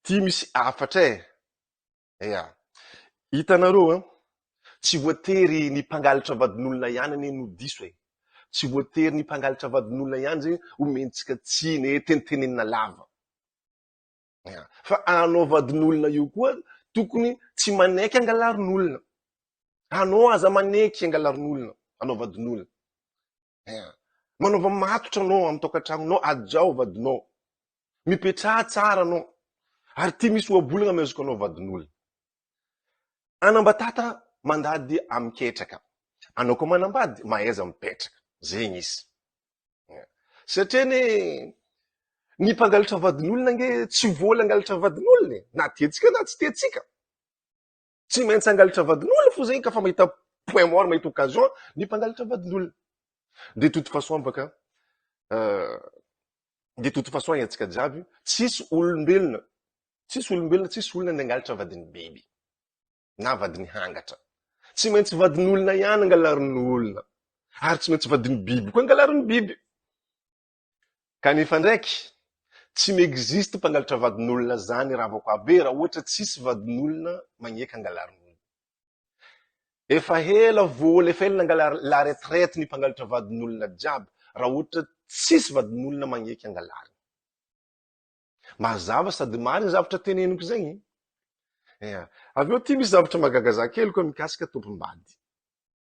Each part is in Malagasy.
Dimy sy hafatra e! Ea! Hitanareo an! Tsy voatery ny mpangalatra vadin'olona ihany anie no diso e! Tsy voatery ny mpangalatra vadin'olona ihany izay omentsika tsiny e, tenitenenina lava. Ea! Fa anao vadin'olona io koa tokony tsy manaiky hangalarin'olona. Anao aza manaiky hangalarin'olona, anao vadin'olona. Eh, Manaova matotra anao amin'ny tokantranonao, hajao vadinao. Mipetraha tsara anao. Ary tia misy ohabolana amezoko anao vadin'olona. Anambatata mandady amin'ny ketraka. Anao koa manambady mahaiza mipetraka. Zegny izy. Eh, Satria ne ny mpangalatra vadin'olona nge tsy vola angalatra vadin'olona e. Na tiantsika na tsy tiantsika. Tsy maintsy hangalatra vadin'olona fo zay ka fa mahita point mort mahita occasion ny mpangalatra vadin'olona. De toute façon baka euh, de toute façon haintsika jiaby tsisy olombelona tsisy olombelona tsisy olona ny hangalatra vadin'ny biby na vadin'ny hangatra. Tsy maintsy vadin'olona ihany angalarin'olona ary tsy maintsy vadin'ny biby koa angalarin'ny biby. Kanefa ndraiky, tsy mi-existe mpangalatra vadin'olona zany Ravakoabe raha ohatra tsisy vadin'olona magneky angalarin'olona. Efa hela vool efa ela nangala la retraite ny mpangalatra vadin'olona jiaby raha ohatra tsisy vadin'olona magneky angalariny. Mazava sady marigny zavatra teneniko zegny. Eha. Avy eo ty misy zavatra mahagaga za kely koa mikasika tompom-bady.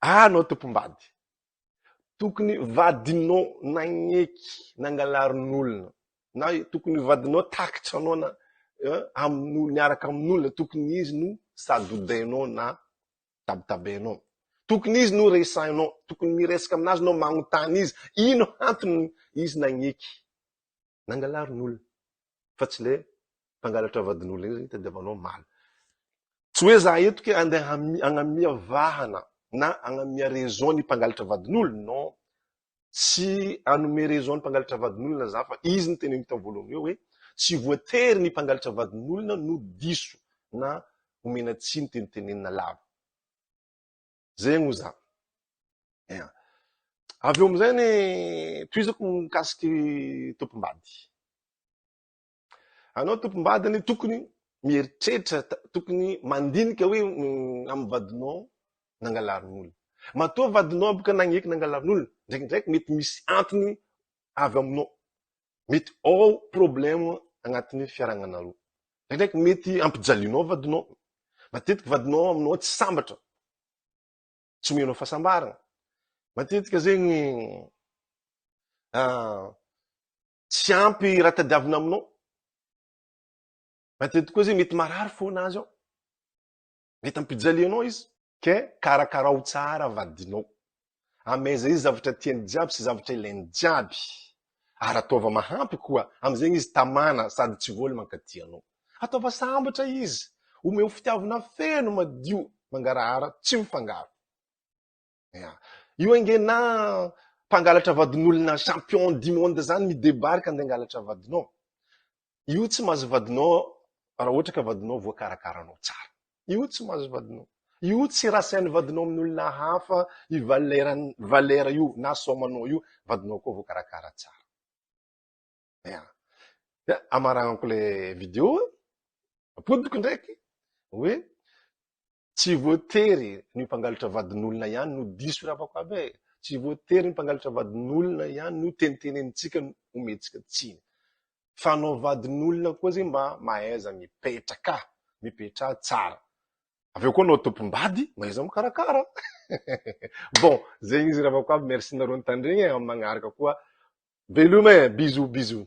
Ah, anao tompom-bady. Tokony vadinao nagneky, nangalarin'olona. Na tokony vadinao takitra anao na eh, amin'olona, niaraka amin'olona. Tokony izy no sadodainao na tabitabainao. Tokony izy no resahinao. Tokony miresaka aminazy nao magnontany izy. Ino antony izy nagneky, nangalarin'olona. fa tsy ilay mpangalatra vadin'olona iny zany itadiavanao omaly. Tsy hoe za eto ke andeha hagnamia vahana na hagnamia raison ny mpangalatra vadin'olona, non. Tsy hanome raison ny mpangalatra vadin'olona za fa izy no teneniko tamin'ny voalohany eo hoe tsy voatery ny mpangalatra vadin'olona no diso na omena tsiny teny tenenina lava. Zay moa zany. Eh. Avy eo amin'izay ny tohizako mikasiky tompom-bady. Anao tompom-bady ny tokony mieritreritra, tokony mandinika hoe mm, amin'ny vadinao nangalarin'olona. Matoa vadinao boka nagneky nangalarin'olona, ndraikindraiky mety misy antony avy aminao. mety ao problème agnatin'ny hoe fiaragnanareo. Ndraindraiky mety ampijalianao vadinao. Matetiky vadinao aminao tsy sambatra. Tsy omenao fahasambarana. Matetika zegny ah, tsy ampy raha tadiavina aminao. Matetiky koa zegny mety marary fona azy ao. Mety hampijaly anao izy. Ka karakarao tsara vadinao. Ameheza izy zavatra tiany jiaby sy zavatra ilainy jiaby. Ary ataova mahampy koa. Amin'izegny izy tamana sady tsy voly mankaty anao. Ataova sambatra izy. Omeo fitiavana feno madio mangarahara tsy mifangaro. Ya. Io ange na mpangalatra vadin'olona champion du monde zany mi-debarque andeha hangalatra vadinao. Io tsy mahazo vadinao raha ohatra ka vadinao voakarakaranao tsara. Io tsy mahazo vadinao. Io tsy rasain'ny vadinao amin'olona hafa i valera valera io na soamanao io, vadinao koa voakarakara tsara. Ya. Ya, amaragnako le vidéo, apodiko ndraiky hoe Tsy voatery ny mpangalatra vadin'olona ihany no diso ry havako aby e! Tsy voatery ny mpangalatra vadin'olona ihany no tenitenenintsika no omentsika tsiny. Fa anao vadin'olona koa zay mba mahaiza mipetraka, mipetraha tsara. Avy eo koa anao tompom-bady mahaiza mikarakara. Bon, zegny izy ry havako aby, merci nareo nitandregny e, amin'ny magnaraka koa veloma e, bisous bisous.